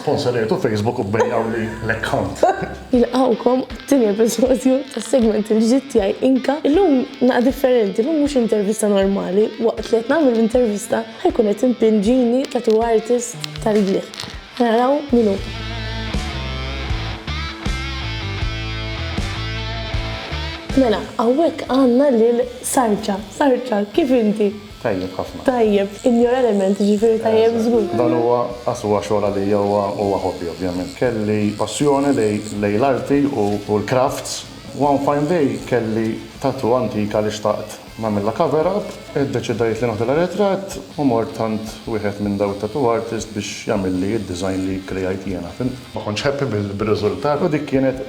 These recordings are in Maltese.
Sponsorijtu Facebook u bejjawli l-account. Nilqgħukom għat-tieni episodju tas-segment il-ġdid tiegħi Inka. Illum naqgħa differenti, illum mhux intervista normali, waqt li qed nagħmel l-intervista ħa jkun qed impinġini tattoo artist tal-bliet. Ħa naraw min hu. Mela, hawnhekk għandna lil Sarċa. Sarċa, kif inti? Tajjeb ħafna. Tajjeb, in your element, jiġifieri tajjeb żgur. Dan huwa, as huwa xogħol għalija, huwa hobby ovvjament. Kelli passjoni lejn l-arti u l-crafts. One fine day kelli tattoo antika li xtaqt nagħmilha cover up. Iddeċidejt li nagħtilha ritratt u mort għand wieħed minn dawn it-tattoo artists biex jagħmilli d-design li kkrijajt jiena, fimt? Ma kontx happy bir-riżultat u dik kienet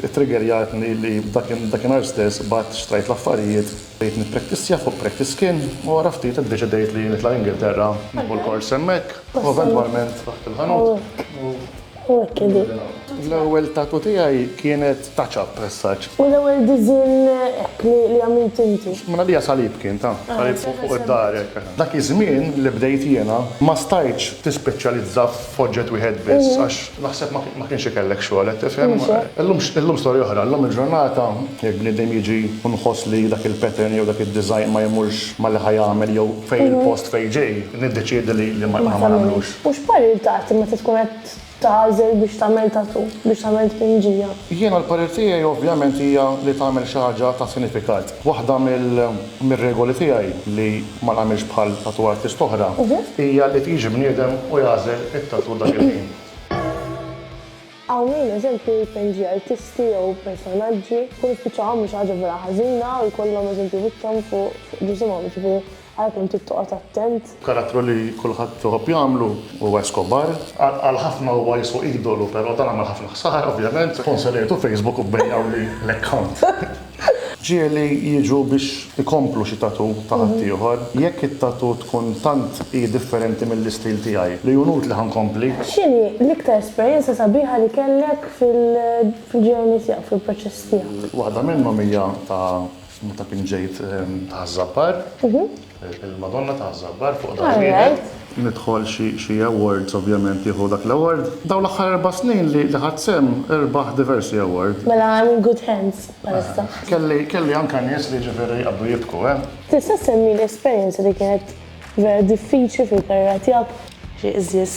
it-triggerjatni li dakinhar stess bgħadt xtrajt l-affarijiet. Bdejt nippraktissja fuq practice skin u wara ftit iddeċidejt li nitla' l-Ingilterra nieħu l-kors hemmhekk u eventwalment ftaħt il-ħanut u bdejna nagħmlu. L-ewwel tattoo tiegħi kienet touch-up as such. U l-ewwel disinn hekk li għamilt inti? Minn għalija salib kien, ta' salib fuq id-dahar hekk. Dak iż-żmien li bdejt jiena ma stajtx tispeċjalizza f'oġġett wieħed biss għax Naħseb ma kienx ikellek xogħol, qed tifhem? Illum storja oħra. Illum il-ġurnata jekk bniedem jiġi u nħoss li dak il-pattern jew dak id-design ma jmurx ma' li ħa jagħmel jew fejn il-post fejn ġej, niddeċiedi li ma nagħmilux. U x'parir tagħti meta tkun qed tagħżel biex tagħmel tatoo, biex tagħmel tpinġija? Jiena l-parir tiegħi ovvjament hija li tagħmel xi ħaġa ta' sinifikat. Waħda mir-regoli tiegħi li. ma nagħmilx bħal tattoo artist oħra, hija li tiġi bniedem u jagħżel it-tattoo dak il-ħin. Hawnhejn eżempju jpinġi artisti jew personaġġi, kun ispiċċawha mhux ħaġa vera ħażina u jkollhom eżempju wiċċhom fuq ġisimhom, jiġifieri ara kemm trid toqgħod attent. Karattru li kulħadd iħobb jagħmlu huwa Escobar. Għal ħafna huwa jiswa idolu, però dan għamel ħafna ħsara ovvjament, sponsorjajtu Facebook u bejgħuli l-account. Ġieli jiġu biex ikomplu xi tattoo ta' ħaddieħor. Jekk it-tattoo tkun tant hi differenti mill-istil tiegħi li hu nutli ħa nkompli. X'inhi l-iktar esperjenza sabiħa li kellek fil-journey tiegħek, fil-proċess tiegħek? Waħda minnhom hija ta' meta kien ġejt ta' Ħaż-Żabbar. Il-Madonna ta' Żabbar fuq dar wieħed. Nidħol xi awards ovvjament jieħu dak l-award. Dawn l-aħħar erba' snin li ħadt sehem irbaħ diversi award. Mela I'm in good hands bħalissa. Kelli anke nies li jiġifieri jqabdu jibku, eh. Tista' ssemmili esperjenza li kienet vera diffiċli fil-karriera tiegħek? Xi qżież.